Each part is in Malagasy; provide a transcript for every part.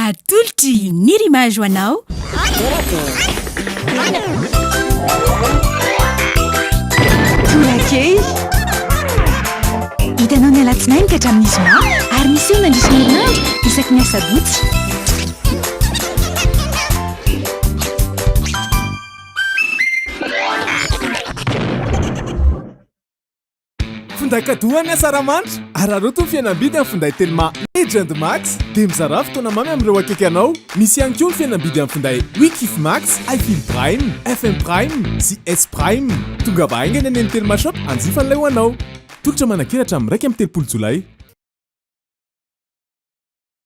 Atolotry ny Rimage ho anao. Torakely. Hitanao ny alatsinainy ka hatramin'ny zoma ary misy eo mandritra ny herinandro isaky ny asabotsy. Finday kadoa an'i Asaramanitra. Araraoty ny fihenam-bidy amin'ny finday Telma Legend Max dia mizarà fotoana mamy amin'ireo akaiky anao. Misy ihany koa ny fihenam-bidy amin'ny finday We Kif Max, I Feel Prime, FM Prime sy S Prime. Tongava haingana eny amin'ny Telma Shop hanjifa an'ilay ho anao. Tolotra manankeratra amin'ny iraika amby telopolo jolay.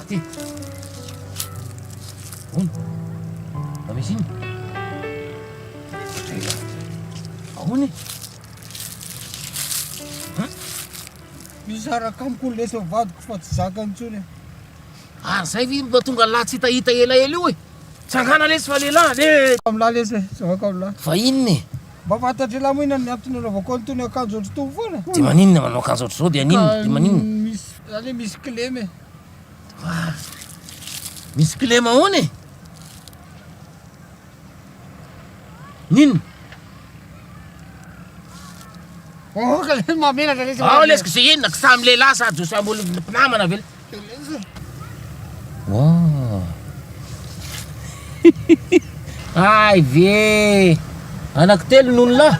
Aty. Ahoana? Mba misy inona? Ela. Ahoana e? Hum? Misaraka amiko ny lesa vadiko fa tsy zaka intsony e. Ary zay ve mba tonga lahy tsy hitahita elaela io e? Tsangana lesy fa lehilahy le. Amin'lah lesy e, zavaka amin'lah. Fa inona e? Mba fantatr'elah moa inona ny antony anaovako an'itony akanjo ohatr'itony foana? Dia maninona manao akanjo ohatr'izao dia aninona? Dia maninona? Misy Za le misy kilema e. Ah, misy kilema ahoana e? Nino? Oh, ka le mamenatra le. Ao lesy k'izay inona ka samy lehilahy sa jo samy olo mpinamana ve? Wow. Hay ve! Anaky telo nony lahy?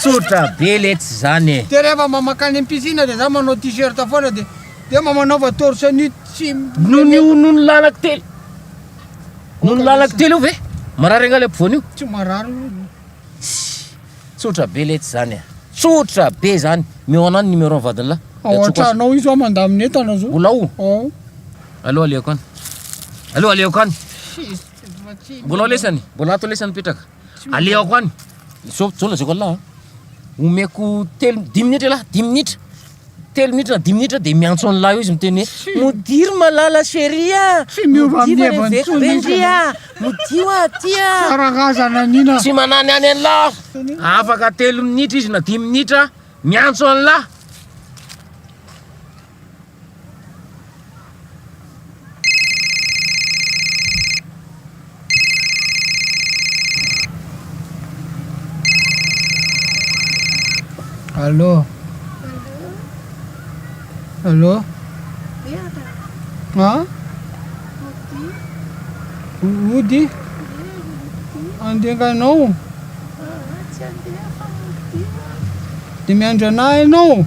Tsotra be letsy zany e! Dia rehefa mba mankany am piscine dia za manao t-shirt foana dia dia mba manaova torse nu tsy Noho ny io nony lahy anaky telo Nony lahy anaky telo io ve? Marary angaha le ampovoany io? Tsy marary io. Tsotra be letsy zany e! Tsotra be zany! Meo anah ny numéro ny vadiny lahy. Ao an-tranao io zao mandamina entana zao. Mbola ao? Ao. Aleo aleoko any. Aleo aleoko any. Mbola lesany, mbola ato lesany petraka. Aleoko any. Zao zao lazaiko Allah. Omeko telo dimy minitra lah, dimy minitra. Telo minitra, dimy minitra dia miantso an'lah eo izy miteny hoe modir malala chérie ah. Tsy miova amin'ny heviny intsony izy. Modio aty ah. Karazana nina. Tsy manany any an'lah. Afaka telo minitra izy na dimy minitra miantso an'lah. Allô Allô Hein Ody Andenganao Dia miandry anà ianao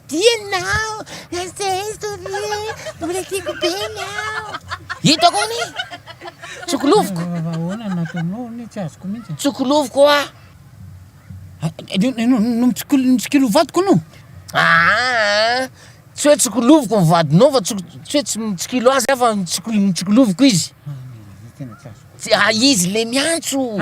Ianao Nasty Toby mbola tiako be ianao. Hitako anie. Tsokolovoka. Raha ahoana no nataonao anie tsy azoko mihitsy. Tsokolovoka hoa. Notsikilovadiko no. Aa tsy hoe tsokolovoka ny vadinao fa tsy hoe tsy mitsikilo azy aho fa notsikoloviko izy. Tena tsy azoko. Tsy a izy le miantso.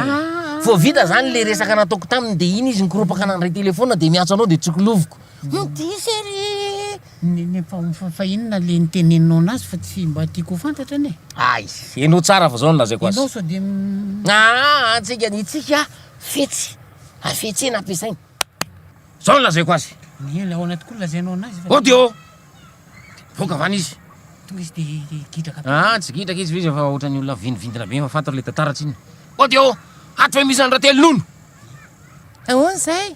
Vao vita zany le resaka nataoko taminy de iny izy nikoropaka nandray telefaonina de miantso anao de tsokolovoka. Humm diso e ry fa inona le nitenenanao anazy fa tsy mba tiako ho fantatra anie. Ay, henoy tsara fa zao no lazaiko azy. Enao sao dia Aa antsika ny tsika fetsy hafetsena ampiasaina. Zao no lazaiko azy. Eny ahoana tokoa no lazainao anazy fa. Ody ô! Voaka avy any izy. Tonga izy dia gidraka be. Aa tsy gidraka izy fa izy efa ohatran'ny olona vinivindina be efa fantatra le tantara tsinona. Ody ô! Hatry ve misy an'i Ratelonono? Ahoana izay?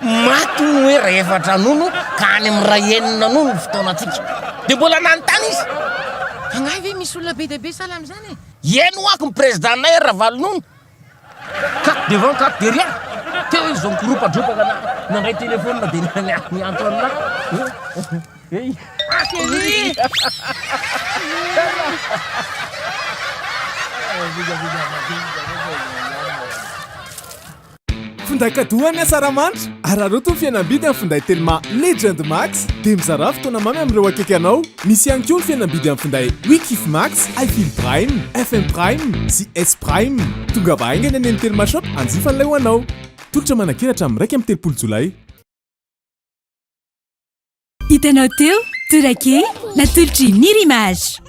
Maty ny hoe iray efatra nono ka any amin'ny iray enina nono ny fotoanantsika. Dia mbola nanontany izy. Angaha ve misy olona be dia be sahala amin'izany e? Iany ho'ako ny Prezidantinay Ravalonono. Ka devant ka derrière. Teo izy vao nikoropatropaka na nandray telefonina dia niantso an'ahy. Finday kadoa ny asaramanitra. Araraoty ny fihenam-bidy amin'ny finday Telma Legend Max dia mizarà fotoana mamy amin'ireo akaiky anao. Misy ihany koa ny fihenam-bidy amin'ny finday We Kif Max, I Feel Prime, FM Prime sy S Prime. Tongava haingana eny amin'ny Telma Shop hanjifa an'ilay ho anao. Tolotra manankery hatramin'ny iraika amby telopolo Jolay. Hitanao teo, Torake, natolotry Nir Image.